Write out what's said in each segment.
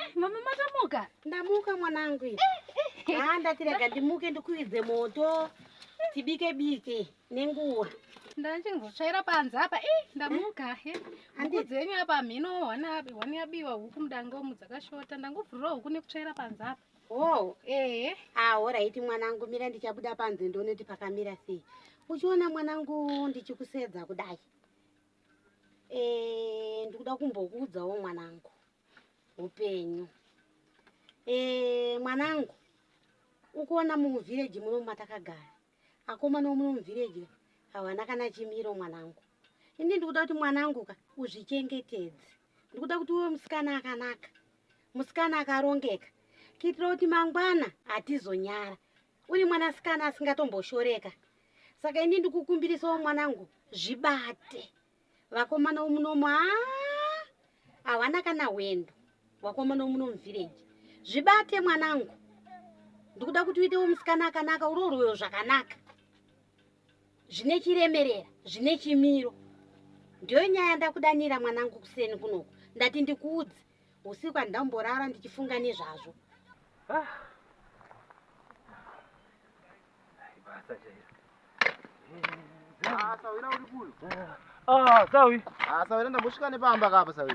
Eh, mama matamuka ndamuka mwanangu eh, eh, haa ndati rega ndimuke ndikuidze moto tibike bike nenguva ndachingotsvaira panze apa i ndamuka huku dzenyu apa mhino hwani yabiwa huku mudangomu dzakashota ndangobvurira huku nekutsvaira panze apa hoo ehe ahoraiti ah, mwanangu mira ndichabuda panze ndonoti pakamira sei uchiona mwanangu ndichikusedza kudai Eh, ndikuda kumbokuudzawo mwanangu upenyu eh, mwanangu ukuona muvhireji muno matakagara akomana omuno muvhireji havana kana chimiro mwanangu ini ndikuda kuti mwanangu ka uzvichengetedze ndikuda kuti uwe musikana akanaka musikana akarongeka kuitira kuti mangwana hatizonyara uri mwanasikana asingatomboshoreka saka ini ndikukumbirisawo mwanangu zvibate vakomana womunomu a hawana kana hwendo wakomana womuno muvhireji zvibate mwanangu ndikuda kuti uitewo musikana akanaka urorwewo zvakanaka zvine chiremerera zvine chimiro ndiyo nyaya ndakudanira mwanangu kuseni kunoku ndati ndikuudze usiku handamborara ndichifunga nezvazvo ah. Ah, sawi ah, sawi ndambosvika nepamba kapa sawi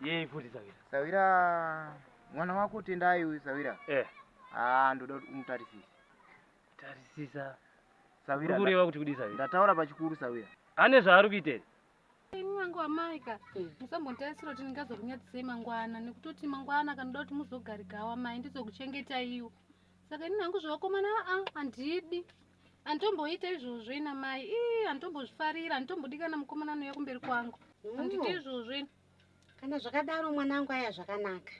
Yei futi Sawira? Sawira mwana wako Tendai uyu Sawira. Eh. Ah, ndoda kuti umutarisise. Tarisisa. Sawira. Kureva kuti kudii Sawira? Ndataura pachikuru Sawira. Ane zvaari kuitei? Ini wangu amaika eh. musambotarisira kuti ndingazokunyatisei mangwana nekutoti mangwana kanoda kuti muzogarikawo amai ndizokuchengetaiwo saka ini hangu zvevakomana aa handidi Antomboita izvozvo ina mai. Ii antombozvifarira, antombodikana mukomana anouya kumberi kwangu. Mm. Andite izvozvo ina. Kana zvakadaro mwanangu aya zvakanaka.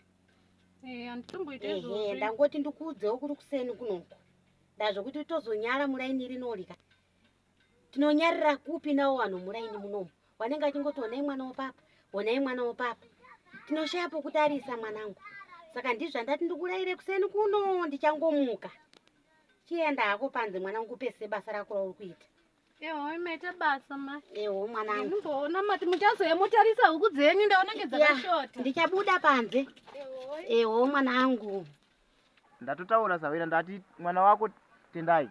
Eh, antomboita izvozvo. Eh, ndangoti ndikuudzewo kuri kuseni kunoko. Ndazvokuti tozonyara muraini rinolika. Tinonyarira kupi nawo vanhu muraini munomu. Wanenge achingoti onai mwana wopapa, onai mwana wopapa. Tinoshaya pokutarisa mwanangu. Saka ndizvo andati ndikuraire kuseni kuno ndichangomuka. chienda hako panze mwana ngupese basa rako rauri kuita eho imaita basa ma eho mwana anguona mati muchazoya motarisa huku dzenyu ndaonenge dzakashota ndichabuda panze eho mwana angu ndatotaura sawira ndati mwana wako tendai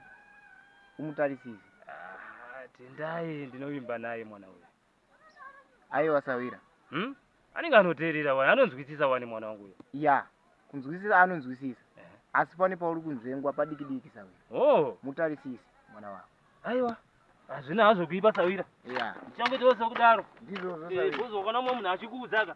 umutarisise ah, tendai ndinovimba naye mwana uyu aiwa sawira hmm? anenge anoteerera wani anonzwisisa wani mwana wangu uyo ya yeah. kunzwisisa anonzwisisa eh. asi pane pauri kunzvengwa padiki diki sawira oh. mutarisisi mwana wako aiwa hazvina hazvo kuipa sawira ya yeah. ndichangoitawo sekudaro ndizvozvo sawira eh, bozokona mumwe munhu achikuudzaka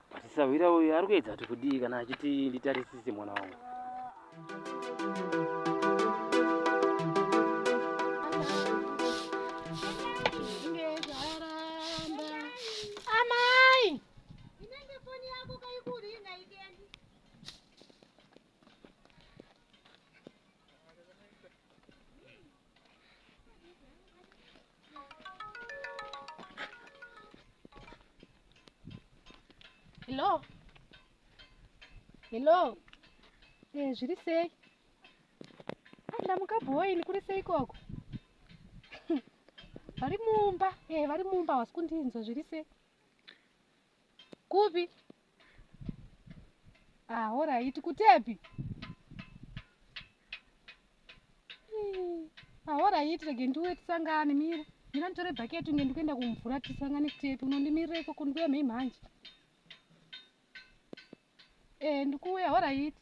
But sahwira uyu ari kuedza kuti kudii kana achiti nditarisise mwana wangu. Hello. Hello. Eh, zviri sei? Ah, ndamuka boy, ndikuri sei koko? Vari mumba. Eh, vari mumba, wasi kundinzwa zviri sei? Kupi? Ah, horaiti kutepi? Ah, horaiti rege ndiuye tisangane mira. Mira nditore bhaketi unge ndikuenda kumvura tisangane kutepi. Unondimirira ikoko ndikuya mhei mhanje. Eh, ndikuuya horaiti.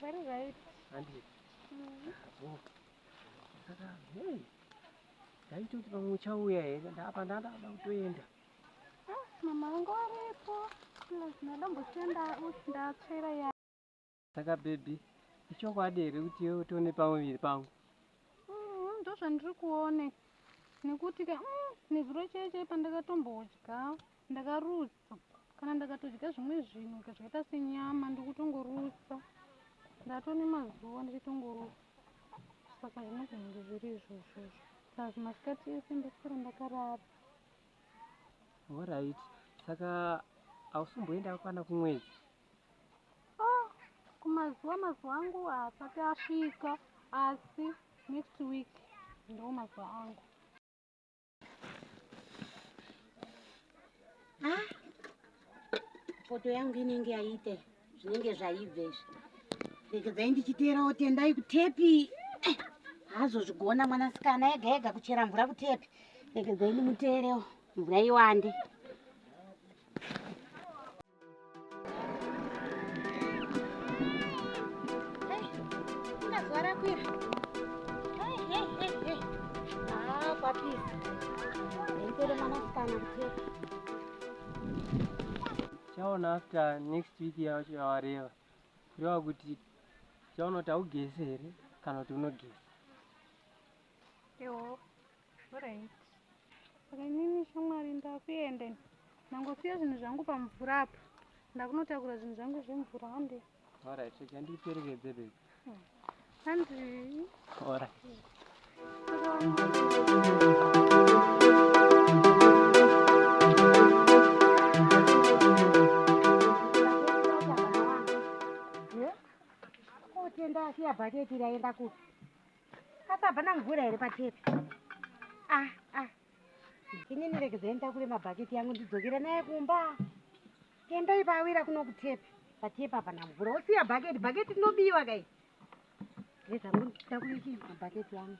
Very right. Andie. Mm. Oh. Saka, hey. Ndaitoti pamwe uchauya here ndapa ndandada kutoenda. Ah, mama wangu aripo. Plus ndadombosenda usi ndatsvera ya. Saka baby, ichokwadi here kuti iwe utone pamuviri pangu? Mm, ndozvandiri kuone. Nekuti ka, mm, nezuro chaiye chaiye pandakatombodya ndakaruza. kana ndakatodya zvimwe zvinhu zvakaita senyama ndikutongorutsa ndatone mazuva ndichitongorutsa saka zvinogona kunge zviri izvozvo plus masikati ese ndosara ndakarara orit saka hausumboenda kwana kumwedzi ah, kumazuva mazuva angu haasati asvika asi next week ndo mazuva angu ah, foto yangu inenge yaite zvinenge zvaibve izvi regedzai ndichiteerawo tendai kutepi eh, haazozvigona mwanasikana ega ega kuchera mvura kutepi regedzai ndimuteerewo mvura iwande chaona after next week yacho yawareva kureva kuti chaona kuti haugese here kana kuti unogesa Alright. Saka inini shamwari ndakuenda ini. Ndangosiya zvinhu zvangu pamvura apa. Ndakunotakura zvinhu zvangu zvemvura hande. Alright, so chandiperekedze baby. Hmm. Handi. Alright. Kotenda asiya bhaketi raenda kupi? Apa hapana mvura here patepi? Ah, ah. Ini niregedzai nditakure mabhaketi yangu ndidzokere naye kumba. Kemba ipa awira kuno kutepi. Patepi hapana mvura. Wosiya bhaketi, bhaketi rinobiwa kai. Reza ngu nditakure chi mabhaketi yangu.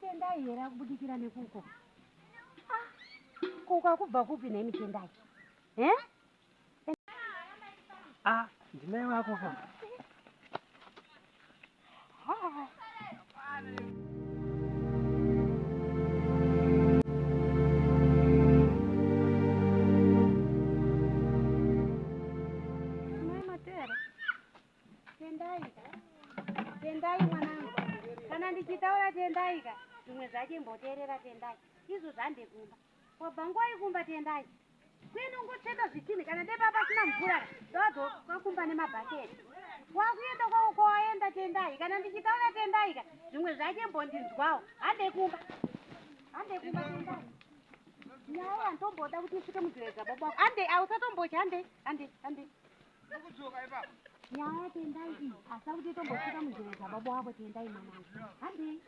Kemba here akubudikira nekuko? Ah. Kuko akubva kupi nei mitendai? Eh? Ah, ndinai wako ka. Mai Matera, tendai tendai mwanangu kana ndichitaura tendai ka zvimwe zvacho imboteerera tendai izvo zvandekumba Kwabva ngwai kumba tiendai. Kuenda ungocheka zvitinhi kana deba pasina mvura ndovadzoka kumba nemabhaketi. Wakuenda kwavo kwawaenda tendai kana ndichitaura tendai ka zvimwe zvake mbondinzwawo. Handei kumba. Handei kumba tendai. Nyaya yantomboda kuti isvike mudhireza baba wako. Handei ausatombocha handei handei handei. Ndokudzoka ipapo. Nyaya tendai iyi asi akuti tombosvika muzvero dzababa wavo tendai mwanangu. Handei.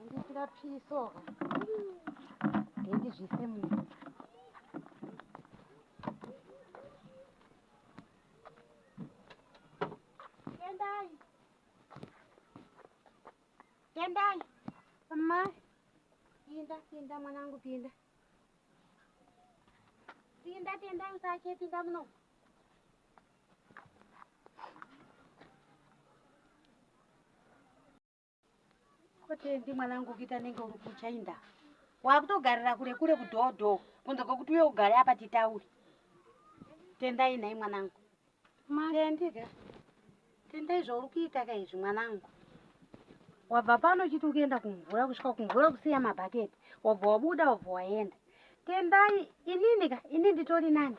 Ndisira piso. Ndendizvise munhu. Tendai. Tendai. Amai. Pinda, pinda mwanangu pinda. Tinda tinda usatye tinda muno. Kotendi mwanangu kuita nenge uri kuchainda. Wakutogarira kure kure kudhodho kunze kwekuti uye ugare apa titaure. Tendai nhai mwanangu. Marendiga, tendai zvauri kuita ka izvi mwanangu. Wabva pano uchiti ukienda kumvura kusvika kumvura kusiya mabhaketi. Wabva wabuda wabva waenda. Tendai, inini ka, ini nditori nani?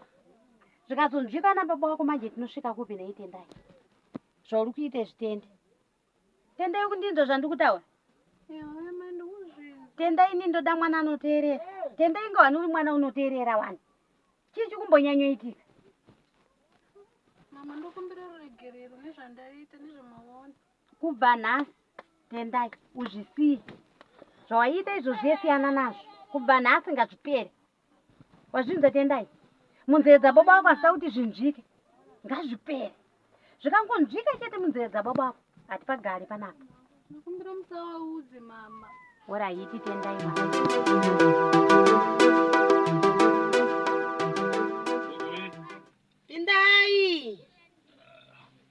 Zvikazonzwikana baba wako manje tinosvika kupi nei tendai? Zvauri kuita izvi tende. Tendai kundinzwa zvandikutaura. Tendai ini ndoda mwana anoteerera. Tendai inga wani uri mwana unoteerera wani. Chii chikumbonyanyoitika? Mama ndokumbira ruregerero nezvandaita nezvemaona. Kubva nhasi Tendai uzvisiye. Zvawaiita izvo zvesiyana nazvo. Kubva nhasi ngazvipere. Wazvinzwa Tendai? Munzeve dzababa wako asida kuti zvinzvike. Ngazvipere. Zvikangonzvika chete munzeve dzababa wako hatipagari panapa. Ndakumbira musawaudze mama. Ora haiti Tendai mama. Tendai.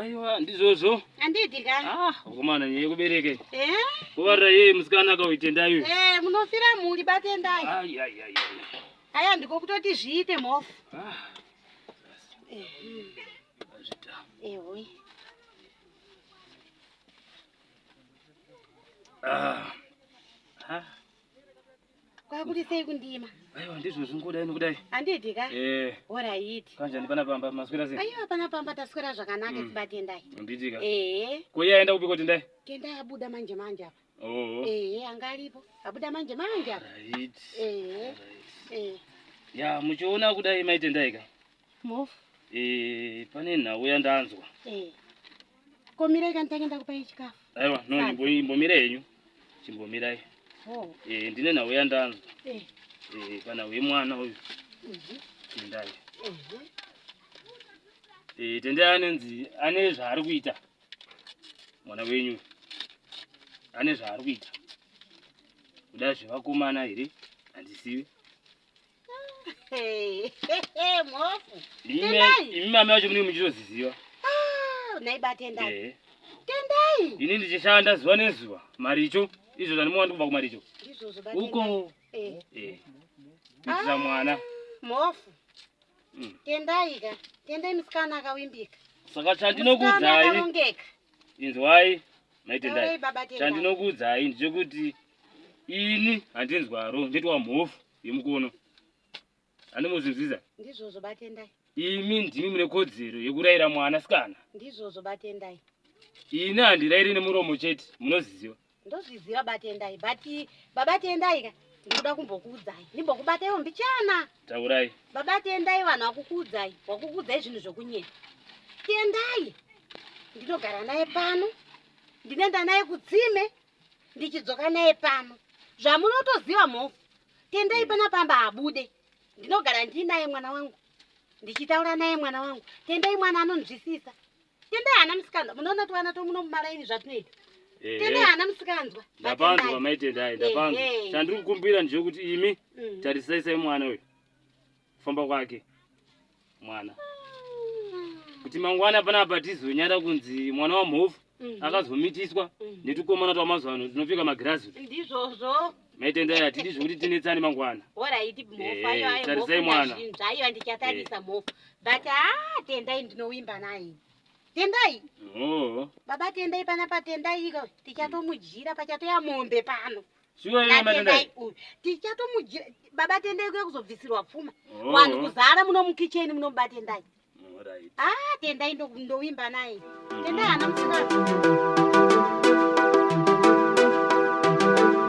Aiwa ndizvozvo. Andidi ka. Ah, ukomana nyeye kubereka. Eh? Kuvarira yeye musikana akauitendayo. Eh, munofira mhuri batendai. Ai ai ai. Aya ndiko kutoti zviite mhofu. Ah. Eh. Zvita. Eh, hoyi. Ah. Ah. kwakurisei kundima aiwa ndizvo zvingoda ini kudai handidi ka eh. orayiti kanjani pana pamba maswera sei aiwa pana pamba taswera zvakanaka mm. sibatendai handitika ee eh. ko iye aenda kupi ko tendai tendai abuda manje manje apa oo ee eh, anga aripo abuda manje manje apa rayiti ee ee ya muchiona kudai maitendai ka mofu ee pane nhau yandanzwa ee komirai kani tange ndakupai chikafu aiwa no imbomira henyu chimbomirai oh. eh, ndine nhau yandanzwa eh. eh, kana uye mwana uyu mhm. tendai mhm. tendai anenzi ane zvaari kuita mwana wenyu ane zvaari kuita kuda zvevakomana here handizivi imi mama vacho munenge muchitoziziva ah, eh. ini ndichishanda zuva nezuva maricho izvo zvanimowa ndikubva kumaricho uko eh. eh. kuitisa ah, mwana mhofu hmm. tendai ka tendai musikana akawimbika saka chandinokuudzai inzwai maitendai chandinokuudzai ndechekuti Ini handinzwaro nditwa mhofu yemukono. Handimuzinzwiza. Ndizvozvo batendai. Imi ndimi mune kodzero yekuraira mwana sikana. Ndizvozvo batendai. Ini handiraire nemuromo chete munozviziva. Ndozviziva batendai but baba tendai ka ndikuda kumbokuudzai ndimbokubataiwo mbichana. Taurai. Baba tendai vanhu vakukuudzai wakukuudzai zvinhu zvokunyera. Tendai ndinogara naye pano ndinoenda naye kutsime ndichidzoka naye pano zvamunotoziva mhofu tendai pana pamba abude ndinogara ndiinaye mwana wangu ndichitaura naye mwana wangu tendai mwana anonzwisisa tendai hana musikanzwa munoona kuti vana tomuno mumalaini zvatinoita tendai hana musikanzwa ndapanzwa maitendai ndapanzwa chandiri kukumbira ndechekuti imi mm. tarisaisai mwana uyu kufamba kwake mwana kuti mangwana panapa tizonyara kunzi mwana wamhofu mhm. akazomitiswa mhm. netukomana twamazuva ano tinopfeka magirazi ndizvozvo maitendai hatidi zvekuti tinetsane mangwana tarisai mwana zvaiva ndichatarisa mhofu but a ah, tendai ndinowimba naye tendai baba tendai pana patendai iko tichatomudyira pachatoya mombe pano Shuwa iwe matendai. Tichatomujira baba tendai kuya kuzobvisirwa pfuma. Oh. Vanhu kuzara muno mukicheni muno baba tendai. Alright. Ah, tendai ndovimba naye. Mm-hmm. Tendai ana musikana.